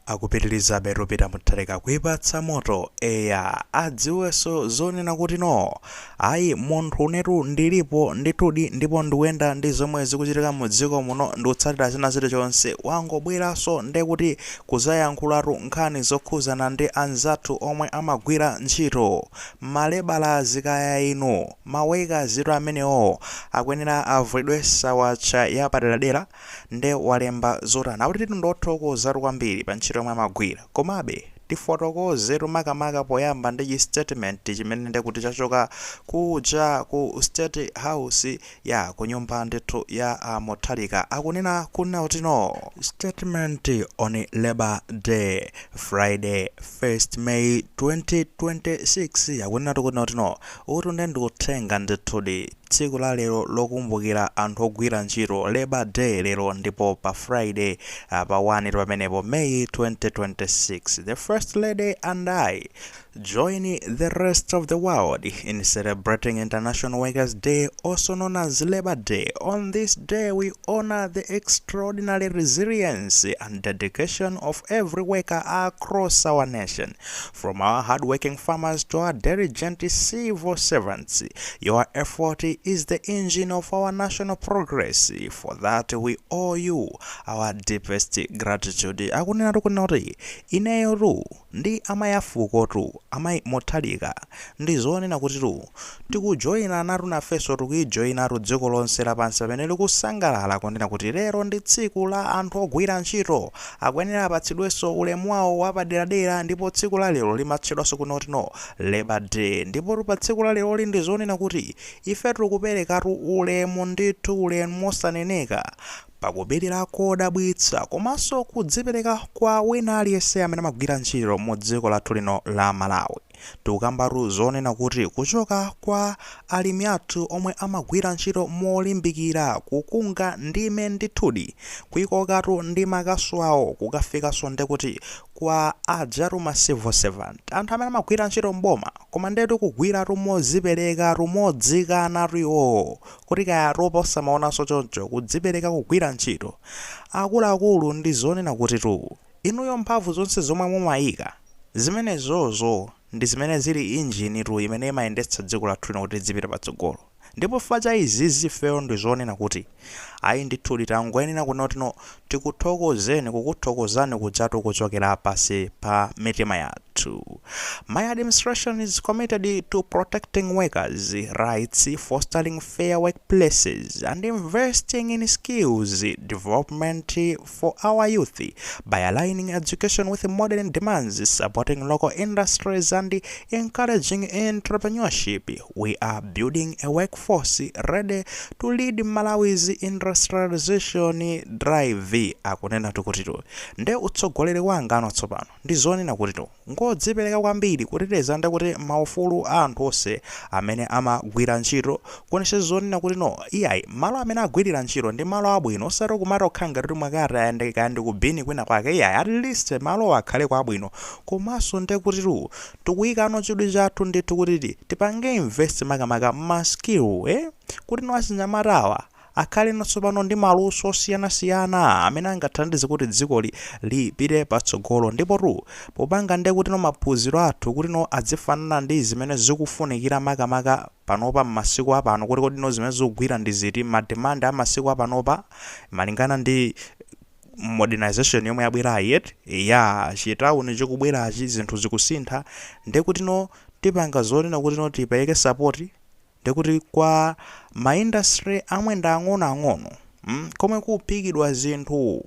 Akupitilizabe Peter Mutharika kuipatsa moto eya adziwenso zonena kuti no ayi munthu unetu ndilipo ndithudi ndipo ndikuyenda ndi zomwe zikuchitika mu dziko muno ndikutsatira china chilichonse wangobweranso ndekuti kuzayankhulatu nkhani zokhuzana ndi anzathu omwe amagwira ntchito mma lebalazi kaya inu ma wekazitu amenewowo akuyenera avulidwe sawasha yapaderadera Nde walemba zotani? Akuti tu ndi othokozatu kwambiri pa ntchito yomwe amagwira. Komabe, tifotokozetu makamaka poyamba ndi chi statement chimene ndekuti chachoka kuja ku State House ya ku nyumba ndithu ya a Mutharika, akunena kunena kuti no. Statement on Labour Day, Friday, 1st May 2026, akunenatu kunena kuti no. Uwutu nde ndi uthenga ndithudi. Tsiku la lero lokumbukira anthu ogwira ntchito, Labour Day, lero ndipo pa Friday pa 1 pamenepo, May 2026, the First Lady and I join the rest of the world in celebrating International Workers Day, also known as Labour Day. On this day, we honor the extraordinary resilience and dedication of every worker across our nation. From our hard working farmers to our diligent civil servants, your effort is the engine of our national progress. For that we owe you our deepest gratitude. Akunena tu kunena kuti ineyo tu ndi amayi afuko tu amayi Mutharika ndi zonena kuti tu Tikujoina natu nafenso tikulijoinatu dziko lonse lapansi pamene likusangalala kunena kuti lero ndi tsiku la anthu ogwira ntchito. Akuyenera apatsidwenso ulemu wawo wapaderadera ndipo tsiku la lero limatchedwanso kuti no labour day ndipotu pa tsiku la leroli ndi zonena kuti ifetu tikuperekatu ulemu ndithu ulemu wosaneneka pa kupilira kodabwitsa komanso kudzipereka kwa wina aliyense amene amagwira ntchito mu dziko lathu lino la Malawi. Tikukambatu zonena kuti kuchoka kwa alimi athu omwe amagwira ntchito molimbikira kukunga ndime ndithudi kuikokatu ndi makasu awo kukafikanso ndekuti kwa ajatu ma civil servant, anthu amene amagwira ntchito m'boma koma ndetu kugwiratu modziperekatu modzikanatu iwowo kuti kaya atopa osamaonanso choncho kudzipereka kugwira ntchito akuluakulu ndi zonena kutitu. Inuyo mphamvu zonse zomwe mumayika, zimenezozo ndi zimene zili engine tu imene imayendetsa dziko lathu lino kuti lidzipita patsogolo. Ndipo chifukwa cha izizi ifeyo ndi zonena kuti, ayi ndithudi tangoyenera kunena kuti no tikuthokozeni kukuthokozani kujatu kuchokera pansi pa mitima yathu. My administration is committed to protecting workers rights, fostering fair workplaces and investing in skills development, for our youth by aligning education with modern demands, supporting local industries, and encouraging entrepreneurship. We are building a workforce ready to lead Malawi's industrialization drive. Akunena tu kutitu nde utsogoleri wanga uno tsopano ndi zonena kutitu ngodzipereka kwambiri kuteteza ndi kuti maufulu a anthu onse amene ama gwira ntchito kuonetsetsa zoona kuti no iyayi malo amene agwirira ntchito ndi malo abwino osati kumangokhala ngati kuti mwakati kaya ndi kaya ndi ku bini kwina kwake iyayi at least malowo akhaleko abwino komanso nde kutitu tikuyikano chidwi chathu ndithu kuti ti tipange invest makamaka ma skill eh kuti no achinyamata awa akhale natsopano ndi maluso osiyana-siyana amene angathandize kuti dzikoli lipite patsogolo. Ndipotu, popanga ndye kutino maphunziro athu kutino adzifanana ndi zimene zikufunikira maka-maka panopa m'masiku apano kuti kodi no zimene zikugwira ndi ziti, ma demand a masiku apanopa malingana ndi modernization yomwe yabwerayi eti, eya, chitauni chikubwerachi zinthu zikusintha ndye kutino tipanga zoona kutino tipereke support. ndekuti kwa ma industry amwe ndi ang'onoang'ono mm, komwe kuphikidwa zinthu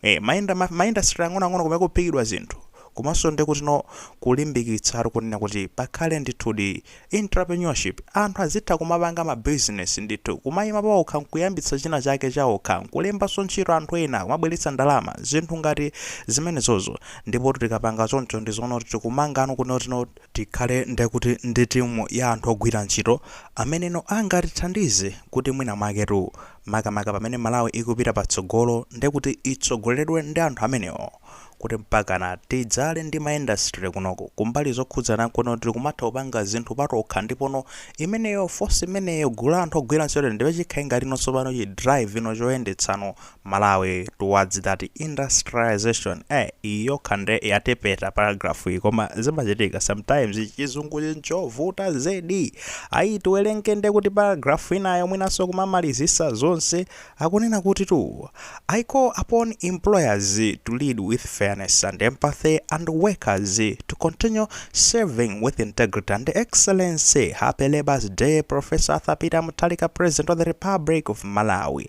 eh, ma, inda, ma, ma industry ang'onoang'ono komwe kuphikidwa zinthu komanso ndekuti no kulimbikitsa eti kunena kuti pakhale ndithudi entrepreneurship anthu azitha kumapanga ma business ndithu kumayima paokha nkuyambitsa china chake chaokha nkulembanso ntchito anthu ena kumabweretsa ndalama zinthu ngati zimenezozo ndipo tikapanga choncho ndi zoona kuti tikumangano kunoti no Tikhale nde kuti ndi timu ya anthu ogwira ntchito ameneno angatithandize kuti mwina mwaketu makamaka pamene Malawi ikupita patsogolo nde kuti itsogoleredwe ndi anthu amenewo kuti mpakana tidzakhale ndi ma industry kunoko kumbali zokhudzana nkuno tili kumatha kupanga zinthu patokha ndipono imeneyo force imeneyo gulu la anthu ogwira ntchito ndiye chikhale ngatino tsopano chi drive ino choyendetsano Malawi towards that industrialisation eh iyi yokha nde yatepeta paragraph iyi koma zimachitika sometimes chizunguchi nchovuta zedi ayi tiwerenge nde kuti paragraph inayo mwinanso kumamalizisa zonse akunena kuti tu I call upon employers to lead with fairness and empathy and workers to continue serving with integrity and excellence happy labour's day professor Arthur Peter Mutharika president of the republic of Malawi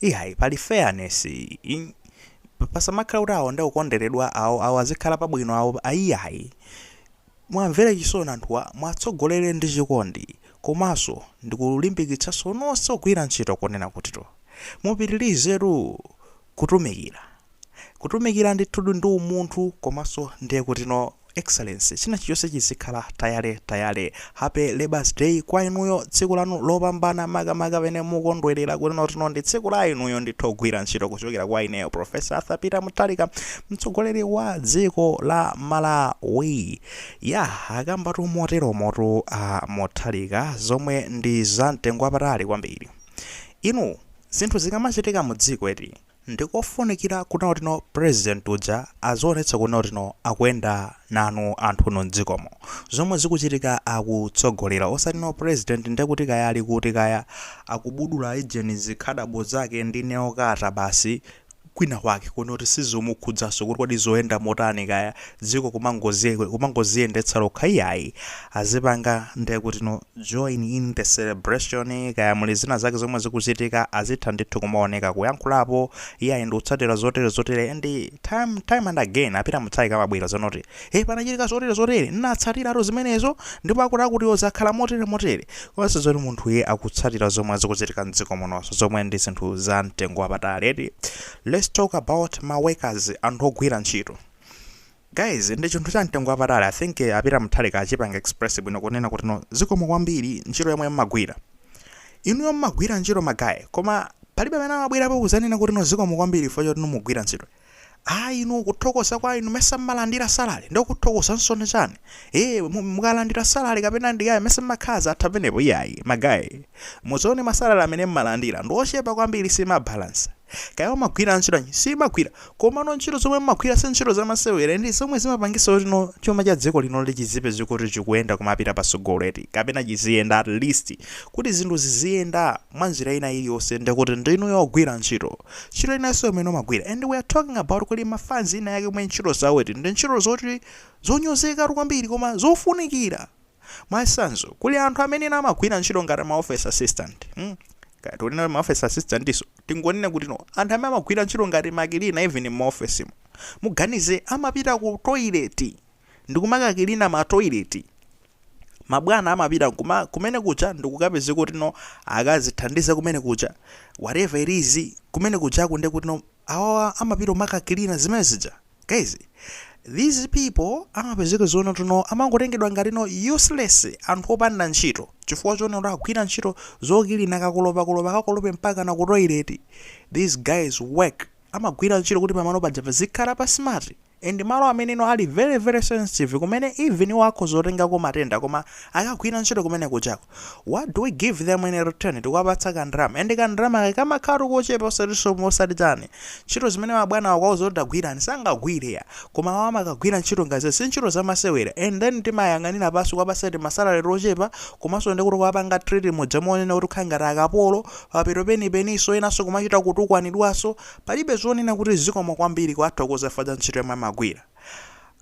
Iyayi pali fairness pasamakhale kuti awo ndiokonderedwa awo awo azikhala pabwino awo iyayi muwamvere chisoni anthuwa muwatsogolere ndi chikondi komanso ndikulimbikitsanso nonse ogwira ntchito kunena kutitu mupitilizetu kutumikira Kutumikira ndithudi ndi umunthu komanso ndiye kuti no excellence china chilichonse chizikhala tayale tayale. Happy Labour's Day kwa inuyo tsiku lanu lopambana makamaka pene mukondwerera kuti no kuti no ndi tsiku la inuyo ndithu ogwira ntchito kuchokera kwa ineyo Prof. Arthur Peter Mutharika mtsogoleri wa dziko la Malawi. Yah akambatu moteromotu a Mutharika zomwe ndi za mtengo wapatali kwambiri. Inu zinthu zikamachitika mu dziko eti. Ndikofunikira kunena kuti no president uja azionetsa kunena kuti no akuyenda nanu anthu inu mdziko muno. Zomwe zikuchitika akutsogolera osati no president ndekuti kaya ali kuti kaya akubudula ijeni zikhadabo zake ndi nail cutter basi kwina kwake kunena kuti sizikumukhudzanso kuti kodi zikuyenda motani kaya dziko kumangozi kumangoziyendetsa lokha iyayi azipanga ndekuti no join in the celebration kaya muli zina zake zomwe zikuchitika azitha ndithu kumaoneka kuyankhulapo iyayi ndikutsatira zotere zotere and time time and again a Peter Mutharika amabwera zonena kuti e panachitika zotere zotere nnatsatiratu zimenezo ndipo akuti akuti zakhala motere motere komanso zoti munthu iye akutsatira zomwe zikuchitika mdziko munonso zomwe ndi zinthu za mtengo wapatali eti let's talk about ma workers anthu ogwira ntchito guys ndi chinthu cha mtengo wapatali i think eh, a Peter Mutharika achipanga express bwino kunena kuti no zikomo kwambiri ntchito yomwe mmagwira inuyo mmagwira ntchito ma guy koma palibe amene amabwerapo kuzanena kuti no zikomo kwambiri chifukwa choti mukugwira ntchito ayi inu kuthokoza kwa inu mesa mmalandira salary ndiko kuthokoza nsone chani e mukalandira salary kapena ndi kaya mesa mmakhaza atha penepo iyayi ma guy muzione ma salary amene mmalandira ndi ochepa kwambiri simabalansa kaya umagwira ntchito yanji siimagwira komano ntchito zomwe mmagwira si ntchito zamasewera ndi zomwe zimapangisa kuti no chuma cha dziko lino li chizipezeka kuti chikuyenda kumapita pasogolo eti kapena chiziyenda at least kuti zinthu ziziyenda mwa njira ina iliyonse ndekuti ndinu ogwira ntchito ntchito inanso imene umagwira and we are talking about kuti mafanzi ena ake omwe ntchito zawo eti ndi ntchito zoti zonyozekatu kwambiri koma zofunikira Mwachitsanzo, kuli anthu amene ena amagwira ntchito ngati ma office assistant, mm kaya tikunena kuti ma office assistantso tingonena kuti no anthu amene amagwira ntchito ngati makilina even mma officemo, muganize amapita ku toilet ndikumakakilina ma toilet, mabwana amapita nkuma kumene kuja ndikukapezeka kuti no akazithandiza kumene kuja whatever it is kumene kujako ndekuti no awawa amapita kumakakilina zimene zija. guys these people amapezeka zonena kuti no amangotengedwa ngati no useless anthu opanda ntchito chifukwa chonena kuti agwira ntchito zokilina kakolopakolopa kakolope mpaka na ku toilet these guys work amagwira ntchito kuti pamalo paja pazikhala pa smart and malo amene no ali very very sensitive kumene even iwo akhoza kutengako matenda koma akagwira ntchito kumene kujako What do we give them in return? Tikuwapatsa ka ndalama. And ka ndalama kake kamakhalatu kochepa osatinso mosati chani. Ntchito zimene mabwana akwauza kuti tagwirani sangagwire ya. Koma awa amakagwira ntchito zoti si ntchito zamasewera. And then timawayang'anira pansi kuwapatsa ti masalary tochepa komanso ndi kuti kuwapanga treat muja monena kuti kukhala ngati akapolo. Pamapeto penipeninso enanso kumachita kutukwanidwanso. Palibe zonena kuti zikomo kwambiri kuwathokoza chifukwa cha ntchito yomwe amagwira.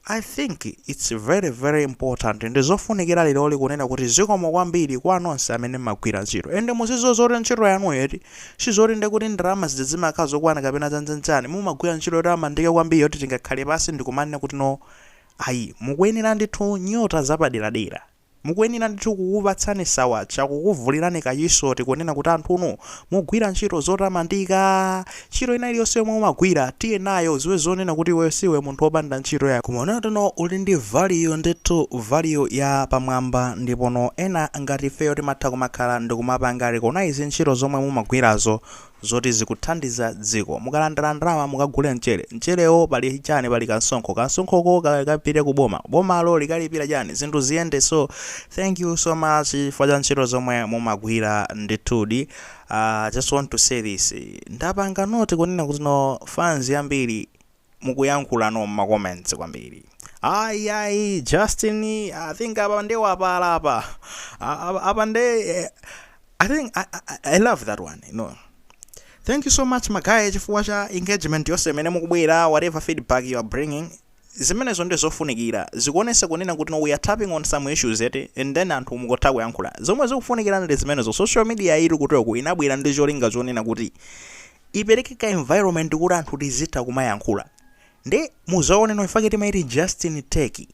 I think it's very very important ndizofunikira leroli kunena kuti zikomo kwambiri kwa nonse amene mmagwira ntchito and muziziwa zoti ntchito yanuyo eti sizoti nde kuti ndalama zija zimakhala zokwana kapena zanjanjani mumagwira ntchito yotamandika kwambiri yoti tingakhale pasi ndikumanena kuti no ayi mukuyenera ndithu nyota zapaderadera Mukuyenera ndithu kukupatsani sawatcha, kukuvulirani kachisoti kunena kuti anthunu mugwira ntchito zotamandika. Ntchito ina iliyonse yomwe mumagwira tiye nayo uziwe zonena kuti iweyo siwe munthu opanda ntchito ayi. Koma uneyo teno uli ndi value ndithu value ya pamwamba ndipono ena ngati ifeyo timatha kumakhala ndikumapanga recognize ntchito zomwe mumagwirazo zoti zikuthandiza dziko. Mukalandira ndalama mukagule mchere. Mcherewo pali chani? Pali kansonkho. Kansonkhoko kakapite ku boma. Bomalo likalipira chani? Zinthu ziyende. So thank you so much chifukwa cha ntchito zomwe mumagwira ndithudi. Uh, I just want to say this. Ndapanga notice kunena kuti no fans yambiri mukuyankhula mma comments kwambiri ayi ayi justin i think apa nde wapala apa A- apa- apa nde eh, i think I, I, i love that one you know thank you so much magaye chifukwa cha engagement yonse imene mukubwera whatever feedback you are bringing zimenezo ndi zofunikira zikuonesa kunena kuti no, we are tapping on some issues eti and then anthu mukotha kuyankhula zomwe zikufunikira ndi zimenezo social media ili kutoku inabwera ndi cholinga chonena kuti ipereke ka environment koti anthu tizitha kumayankhula nde muzaona ndi chifukwa chake timaiti Justin's Take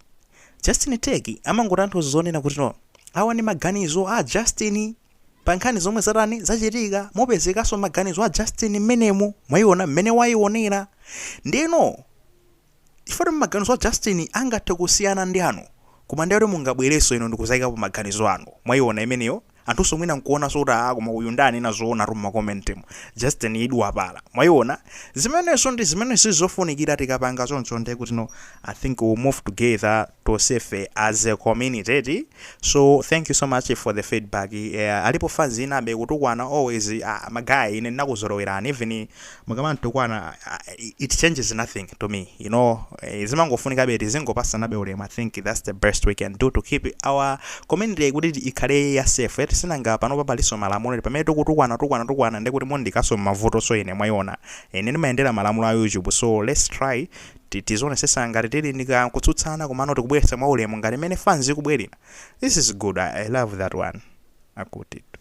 Justin's Take imangotanthauza zonena kuti no awa ndi maganizo a Justin pa nkhani zomwe zatani zachitika mupezekanso maganizo a Justin mmenemu mwaiona mmene wayionera ndeno chifukwa choti maganizo a Justin angathe kusiyana ndi anu koma ndiye kuti mungabwerenso inu ndikuzaikapo maganizo anu, mwaiona imeneyo? anthunso mwina nkuonanso kuti aah koma uyu nde anena zoonatu mma comment mu, Justin iwe wapala, mwaiona? zimenezo ndi zimene zikufunikira tikapanga choncho ndiye kuti no I think we will move together. tosefe as a community eti so thank you so much for the feedback yeah, alipo fans inabe kutukwana always uh, magaye ine ndinakuzolowerani even mukamantukwana uh, it changes nothing to me you know eh, zimangofunika be kuti tizingopasanabe ulemu i think that's the best we can do to keep our community kuti ikhale ya safe eti sinanga panopa paliso malamulo eti pamene tikutukwana tukwana tukwana ndekuti mundiikaso mmavuto so ine mwayiona ine ndimayendera malamulo a youtube so let's try tizionesesa ngati tili ndi ka kutsutsana komano tikubweretsa mwa ulemu ngati mmene fans ikubwerera. This is good I, I love that one. Akutitu.